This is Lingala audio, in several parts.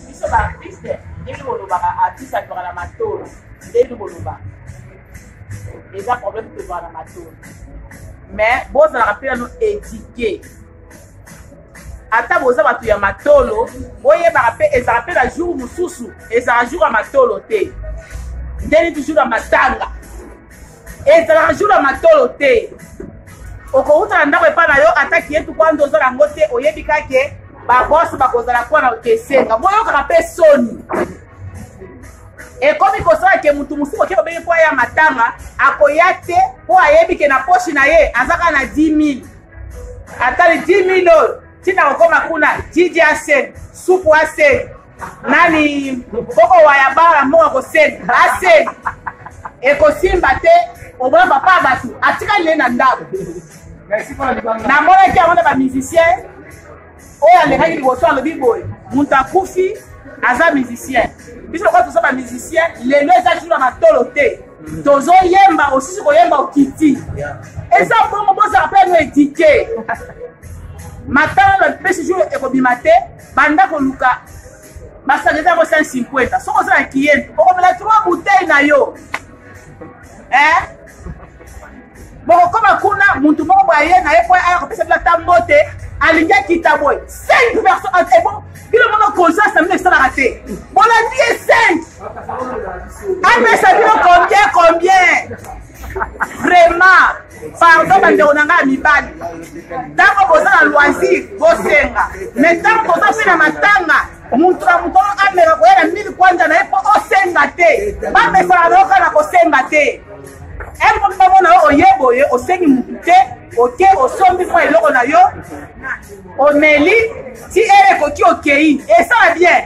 biso ba artiste ndenge bolobaka artiste azwaka na matolo ndenge boloba eza problème tozwaka na matolo mais bozalaka mpe nano édike ata boza bato ya matolo boyebaka mpe ezala mpe na jour mosusu ezala jour ya matolo te ndeni toujours ya matanga ezalaka jour ya matolo te okowuta na ndako epai na yo ata kiyetu kwanza oza nango te oyebi kake babosi bakozala kuwa na okesenga boyokaka mpe soni ekomi kosala ke motu mosusu oke obenge mpo aya matanga akoya te mpo ayebi ke na poshi na ye aza kaka na 10 000 atali 10 000 oyo ntina kokoma kuna jiji aseni supu aseni nani boko waya bara moka koseli baseli ekosimba te oboya papa ya bato atikali ye na ndako namonaki yango na bamusicien oyo alekaki liboso alobi boye moto akufi aza musicien biso lokola toza bamusicien lelo eza jour ya matolo te tozoyemba osisi koyemba okiti eza bongo bozala mpe no edike matala na pesi jour ekobima te banda koluka basanga eza yango 150 soki oza na kiyeni okomela 3 bouteille na yo eh? bokokoma kuna mutu moko boye aye na ye po aya kopesa bino ata mbote alingi akita boye 5 personne ebo eh, bino mono conscience na bino esalaka te bolandi ye 5 apesa bino combien combien vraiment pardon bandeko na ngai ya mibali ntango boza na loisir bosenga mai ntango boza mpe na matanga moto na moto ameka koya na mili kwanja na ye mpo osenga te bamesana na yoka na kosenga te mpo bamona yo oye boye osengi motu te oke osombi mwa eloko na yo omeli ti ere ekoki okei esala bien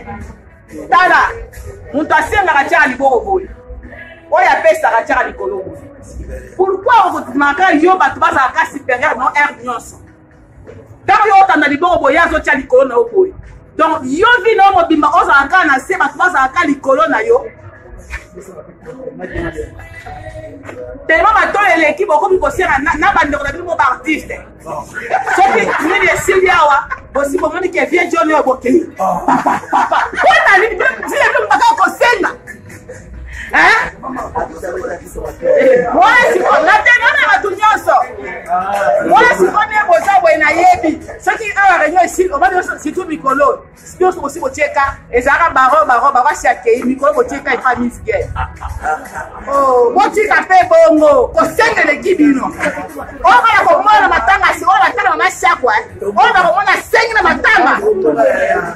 tala moto asengaka tiaka liboko boye oyo apesaka tiaka likolo boye pourkui okotimaka yo bato bazalaka superieur no aire nyonso ntango yo otanda liboko boye azotya likolo na yo boye donc yo vi na yo mobimba ozala kaka na se bato bazala kaka likolo na yo telema bato eleki bokomi kosenga na bandeko na bino mo baartiste soki nini esili awa bosi bomoni ke vie joni oyo bokei papa papa mpona nini ntina bino baka kosenga mwasi natena na bato nyonso mwasi mpone boza boye nayebi soki awa reunion esili oba surtout mikolo Nionso bosi botieka ezalaka baro baro baro asi akei mikolo botieka epa miss gel oh, botika mpe bongo kosenga eleki bino oyo bana komona na matanga si oyo batanga mama siakwa eh. oyo bakomona asengi na matanga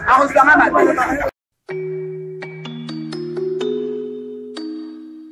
akozwanga mabe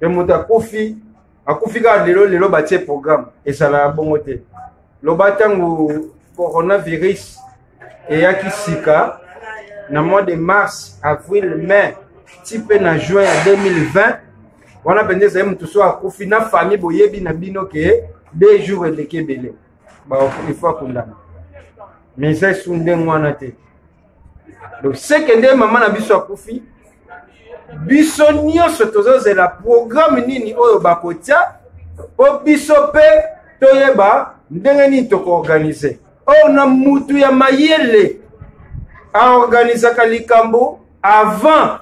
me moto akufi akufi kaka lelo lelo batie programme ezalaka bongo te loba ntango coronavirus eyaki sika na mois de mars avril mai ti mpe na juin ya 2020 wana mpenza ezali moto so akufi na famille boyebi na bino ke deux jours eleki ebele ifo akundama mais esu ndenge wana te donc seke nde mama na biso akufi biso nyonso tozozela programe nini oyo bakotya mpo biso mpe toyeba ndenge nini tokoorganize or na mutu ya mayele aorganizaka likambo avant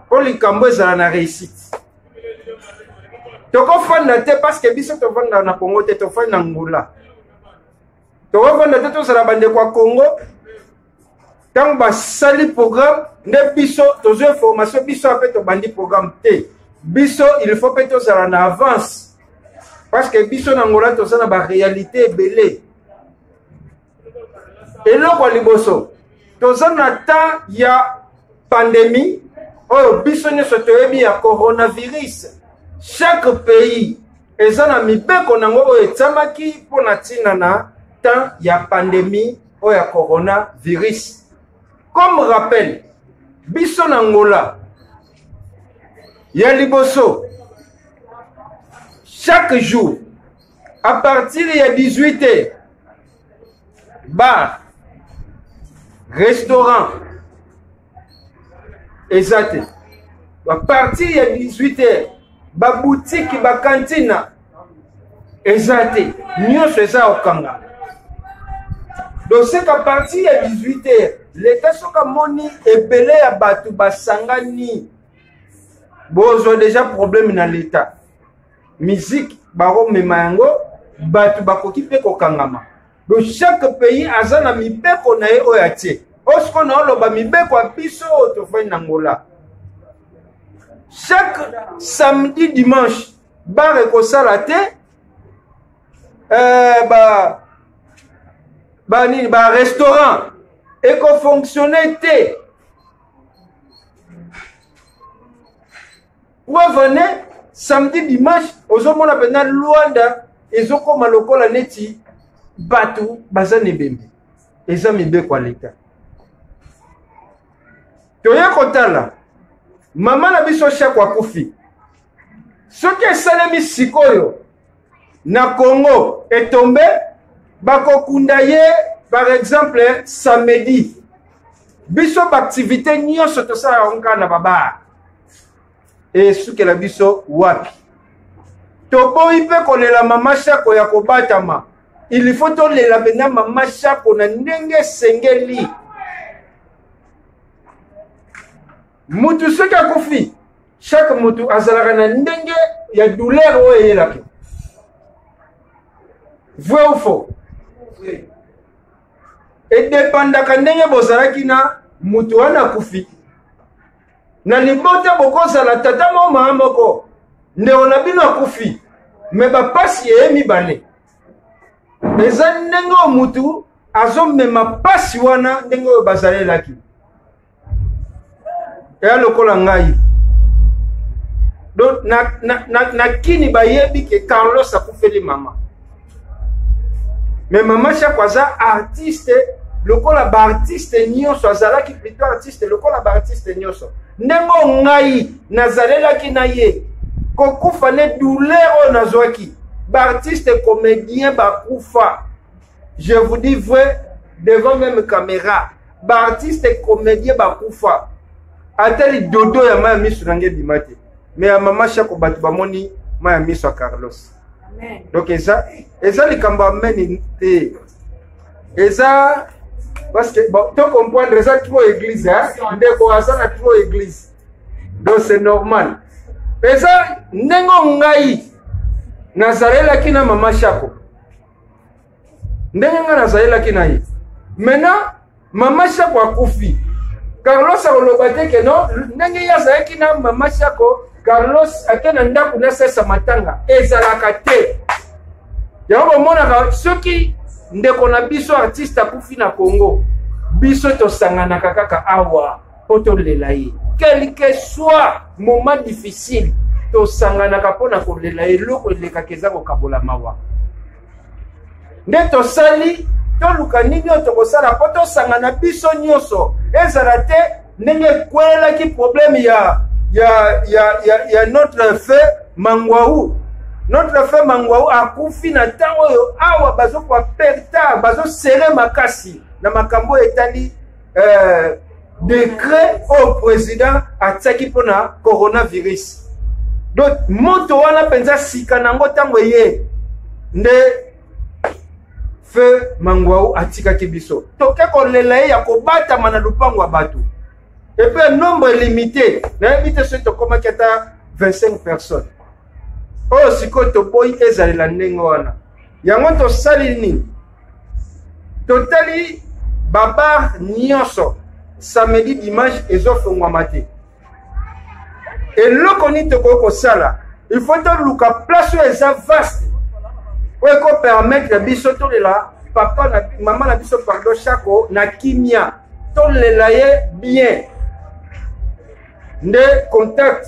mpo likambo ezala na réussite tokofanda te parce que biso tofandaka na congo te tofandi na ngula tokofanda te tozala bandeko ya congo ntango basali programme nde biso tozwi information biso ape tobandi programme te biso il faut mpe tozala na avance parce que biso na ngola toza na baréalité ebele eloko ya liboso toza na temps ya pandémie oyo biso nyonso toyebi ya coronavirus chaque pays eza na mibeko na yango oyo etiamaki mpo na ntina na temps ya pandemie oyo ya coronavirus comme rappel biso na ngola ya liboso chaque jour à partir ya 18 heures bar restaurant eza te bapartir ya 18 heures babutiki bakantina eza te nyonso eza ya kokangana doseka parti ya 18 heures leta soki amoni ebele ya bato basangani bozwa deja probleme na leta miziki bakomema yango bato bakoki mpe kokangama do chaque pays aza na mibeko na ye oyo atie oyo sikoyo naoloba mibeko ya biso oyo tofandi na ngola chaque samedi dimanche bar ekosala te euh, ba ba nini ba restaurant ekofonctionne te preuve en est samedi dimanche ozomona mpenza luanda ezokoma lokola neti bato baza na ebembe eza mibeko ya leta toye kotala mama na biso shako akufi soki esalemi sikoyo na congo etombe bakokunda ye par exemple samedi biso baaktivité nyonso tosala yango kaka na babaa esukela biso wapi toboyi mpe kolela mama shako ya kobatama il faut tolela mpena mama shako na ndenge esengeli mutu soki akufi chaque mutu azalaka na ndenge ya douleur oyo eyelaka vrai ou faux edepandaka ndenge bozalaki na mutu wana akufi na libota bokozala tata mo maa moko ndeko na bino akufi me bapasi eye mibale eza ndenge oyo mutu azomema pasi wana ndenge oyo bazalelaki eya lokola ngai donc na, na, na, na kini bayebi ke carlos akufeli mama me mama shako aza artiste lokola baartiste nyonso azalaki plutôt artiste lokola baartiste nyonso ndenge oyo ngai nazalelaki na ye kokufa nde douleur oyo nazwaki baartiste comédien bakufa je vous dis vrai devant même caméra baartiste comédien bakufa ata lidodo ya maya miso na nge ebima te me ya mama shako bato bamoni maya miso ya carlos donc eza eza likambo ameni te eza parce que bon, to comprendre eza trop église hein? ndeko aza na trop église donc c'est normal eza ndenge ngai nazalelaki na mama shako ndenge ngai nazalelaki na ye maintenant mama shako akufi carlos akoloba te ke no ndenge ye azalaki na mama shako carlos ake na ndako na sesa matanga ezalaka te yango bomonaka soki ndeko na biso artiste akufi na congo biso tosanganaka kaka awa mpo tolela ye quelque soit moment difficile tosanganaka mpo na kolela eloko elekaka eza kokabola mawa nde tosali toluka nini oyo tokosala mpo tosangana biso nyonso ezala te ndenge ekwelaki probleme ya, ya, ya, ya, ya notre feu mangwau notre feu mangwau akufi na ntango oyo awa bazokuwa pertard bazosere makasi na makambo oyo etali euh, decret oyo président atiaki mpo na coronavirus donc moto wana mpenza sika na yango ntango eye nde feu mangwau atikaki biso toke kolela ye ya kobatama na lupango ya bato epe nombre limité nayebi te soki tokomaki ata 25 personnes oyo sikoyo toboyi ezalela ndenge wana yango tosali nini totali babar nyonso samedi dimanche ezofongwama te eloko nini tokoki kosala il faut toluka place oyo eza vaste oyo ekopermettre biso tolela papa na mama na biso pardon shako na kimia tolela ye bien nde contact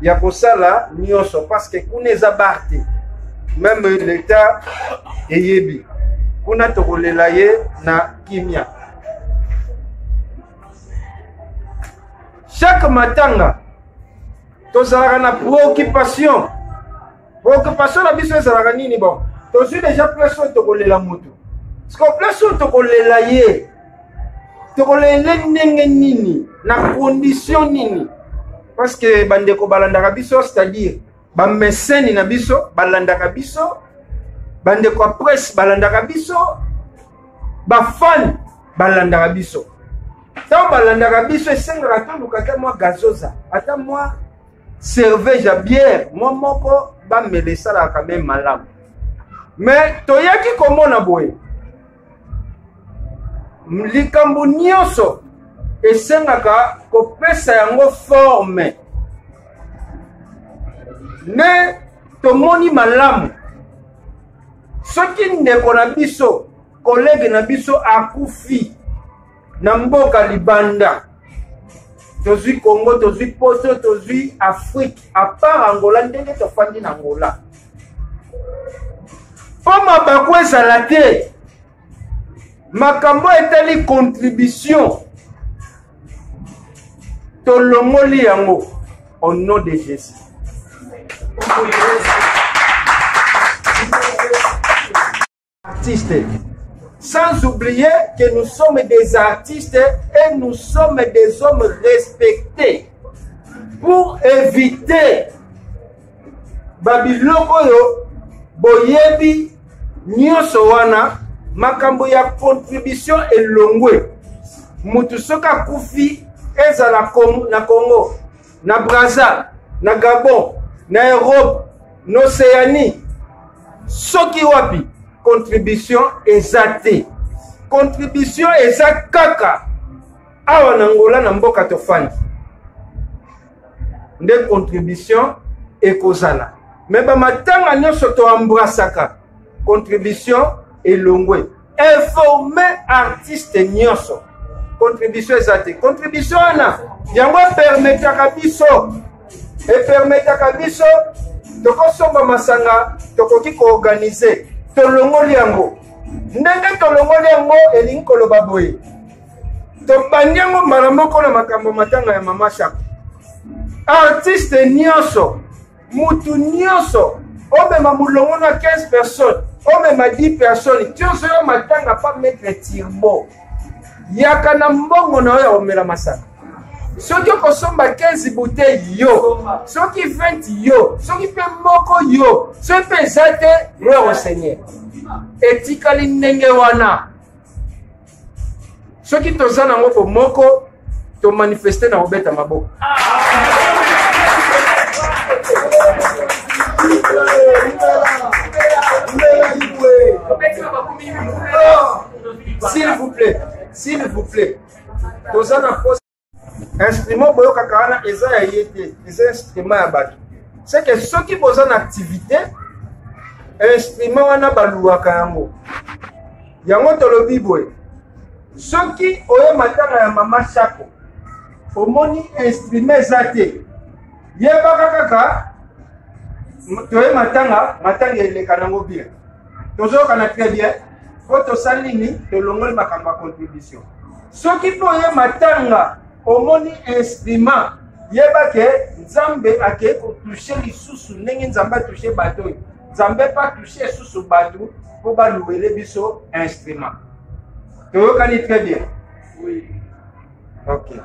ya kosala nyonso parce que kuna eza bar te meme leta eyebi kuna tokolela ye na kimia chaque matanga tozalaka na préoccupation Occupation na biso ezalaka nini bon? Tozwi deja place oyo tokolela moto. Siko place oyo tokolela ye. Tokolela ye ndenge nini? Na condition nini? Parce que bandeko balandaka biso c'est-à-dire bameseni na biso balandaka biso bandeko ya presse balandaka biso bafani balandaka biso ntango balandaka biso esengaka toluka ata mwa gazoza ata mwa cervege ya biere mwa moko bamela esalaka me malamu me toyaki komona boye likambo nyonso esengaka kopesa yango forme nde tomoni malamu soki ndeko na biso kolege na biso akufi na mboka libanda tozwi congo tozwi poto tozwi afrike apart angola ndenge tofandi na angola mpo mabaku ezala te makambo etali contribution tolongoli yango au nom de jésus artistes. Sans oublier que nous sommes des artistes et nous sommes des hommes respectés. Pour éviter babiloko oyo boyebi nyonso wana makambo ya contribution elongwe moto soki akufi ezala na congo na braza na gabon na europe na océanie soki wapi contribution eza te contribution eza kaka awa na ngola na mboka tofandi nde contribution ekozala me bamatanga nyonso toambrasaka contribution elongwe informe artiste nyonso contribution eza te contribution wana yango epermetaka biso epermetaka biso tokosomba masanga tokoki koorganize tolongoli yango ndenge tolongoli yango elingi koloba boye tobandi yango mbala moko na makambo matanga ya mama shako artiste nyonso mutu nyonso omema mulongo na 15 personnes omema 10 personnes ti ozoya matanga pa maitre tirbo yaka na mbongo na yo ya komela masaka soki okosomba 15 bouteille yo soki 20 yo soki mpe moko yo soki mpe eza te gloire au seigneur etikali ndenge wana soki toza nango bomoko tomanifeste na kobeta maboko s'il vous plaît s'il vous plaît toza na instrument boyokaka wana eza ya ye te eza instrument ya bato seke soki boza na activité instrument wana baluwaka yango yango tolobi boye soki oye matanga ya mama sako omoni instrument eza te yebaka kaka toye matanga matanga eleka nango bien tozoyokana très bien mpo tosali nini tolongoli makambo ya contribution soki mpo oye matanga omoni instrument yeba ke nzambe akei kotushe lisusu ndenge nzambe atushe bato oyo nzambe mpe atushe lisusu bato mpo balouele biso instrument toyokani très bien oui. ok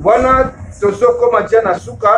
wana tozokoma dia na suka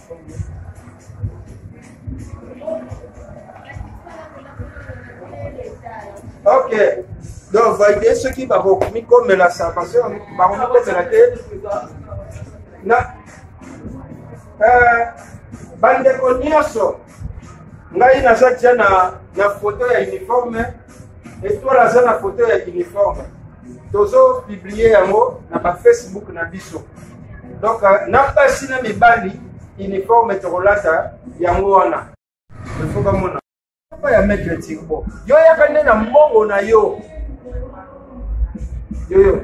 ok donc valide soki bakomikomela sa parce bakomikomela te na euh, bandeko nyonso ngai naza tia na, na foto ya uniforme Etoile aza na foto ya uniforme tozo publie yango na ba facebook na biso donc euh, na basi na mibali uniforme tokolata yango wana ifo bamona ya maitre tirbo yo yaka nde na mbongo na yo yoyo